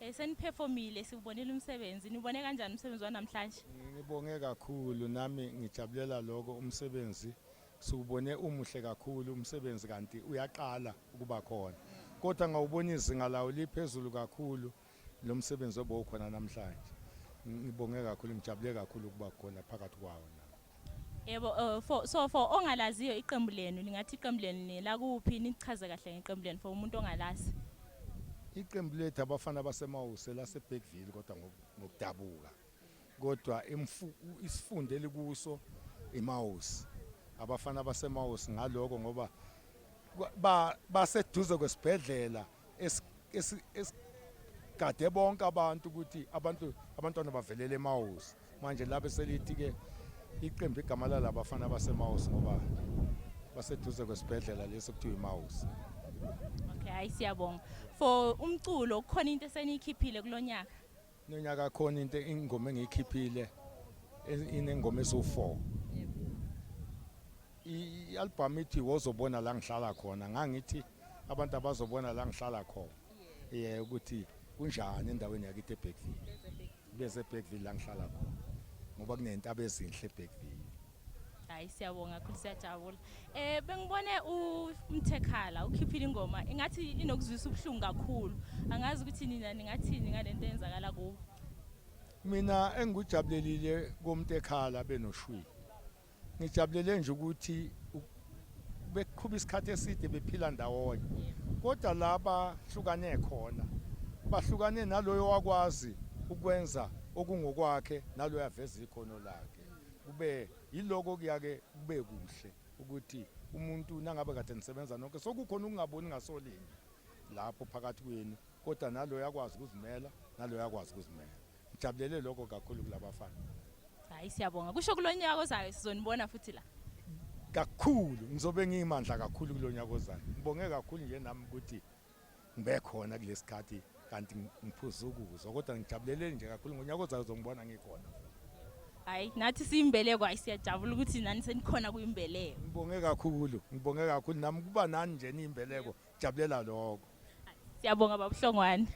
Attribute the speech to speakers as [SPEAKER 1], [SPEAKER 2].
[SPEAKER 1] Eh, seniphefomile siwubonile umsebenzi niwubone kanjani umsebenzi wanamhlanje ngibonge
[SPEAKER 2] kakhulu nami ngijabulela lokho umsebenzi siwubone umuhle kakhulu umsebenzi kanti uyaqala ukuba khona kodwa ngawubona izinga lawo liphezulu kakhulu lo msebenzi obowukhona namhlanje ngibonge kakhulu ngijabule kakhulu ukuba khona phakathi kwawo Yebo
[SPEAKER 1] uh, for, so for ongalaziyo iqembu lenu lingathi iqembu lenu nelakuphi nichaze kahle ngeqembu lenu for umuntu ongalazi. Iqembu
[SPEAKER 2] lethu abafana basemawuse laseBergville kodwa ngokudabuka. Kodwa isifundo elikuso imawuse. Abafana basemawuse ngaloko ngoba baseduze kwesibhedlela ba esigade bonke abantu ukuthi abantu abantwana bavelele emawusi manje labe selithi-ke iqembu igama lalabafana abasemawusi ngoba baseduze kwesibhedlela lesi okuthiwa imawusi okay
[SPEAKER 1] hayi siyabonga for umculo kukhona into eseniyikhiphile kulo nyaka Nonyaka khona
[SPEAKER 2] into ingoma engiyikhiphile inengoma esu4. I-album ithi wozobona la ngihlala khona ngangithi abantu abazobona la ngihlala khona. Yeah ukuthi kunjani endaweni yakithi eBeckville. Bese eBeckville la ngihlala khona. Ngoba kunentaba ezinhle eBeckville. hayi
[SPEAKER 1] siyabonga kakhulu siyajabula um bengibone umthekhala ukhiphile ingoma ingathi inokuzwisa ubuhlungu kakhulu angazi ukuthi nina ningathini ngale nto eyenzakala kuwo mina
[SPEAKER 2] engikujabulelile komntekhala benoshwili ngijabulele nje ukuthi beqhuba isikhathi eside bephila ndawonye kodwa laba hlukane khona bahlukane naloyo wakwazi ukwenza okungokwakhe naloyo aveza ikhono lakhe kube yiloko kuyake kube kuhle ukuthi umuntu nangabe kade nisebenza nonke sokukhona ukungaboni ngasolinye lapho phakathi kwenu kodwa naloyo akwazi ukuzimela naloyo akwazi ukuzimela ngijabulele lokho kakhulu kulabafana hayi
[SPEAKER 1] siyabonga kusho kulonyaka ozayo sizonibona futhi la kakhulu
[SPEAKER 2] ngizobe ngiyimandla kakhulu kulonyaka ozayo ngibonge kakhulu nje nami ukuthi ngibe khona kulesikhathi kanti ngiphuza ukuzwa kodwa ngijabuleleni nje kakhulu ngonyaka ozayo uzongibona ngikhona hayi
[SPEAKER 1] nathi siyimbeleko hayi siyajabula ukuthi nani senikhona kuyimbeleko ngibonge kakhulu
[SPEAKER 2] ngibonge kakhulu nami kuba nani nje niyimbeleko jabulela lokho siyabonga babuhlongwane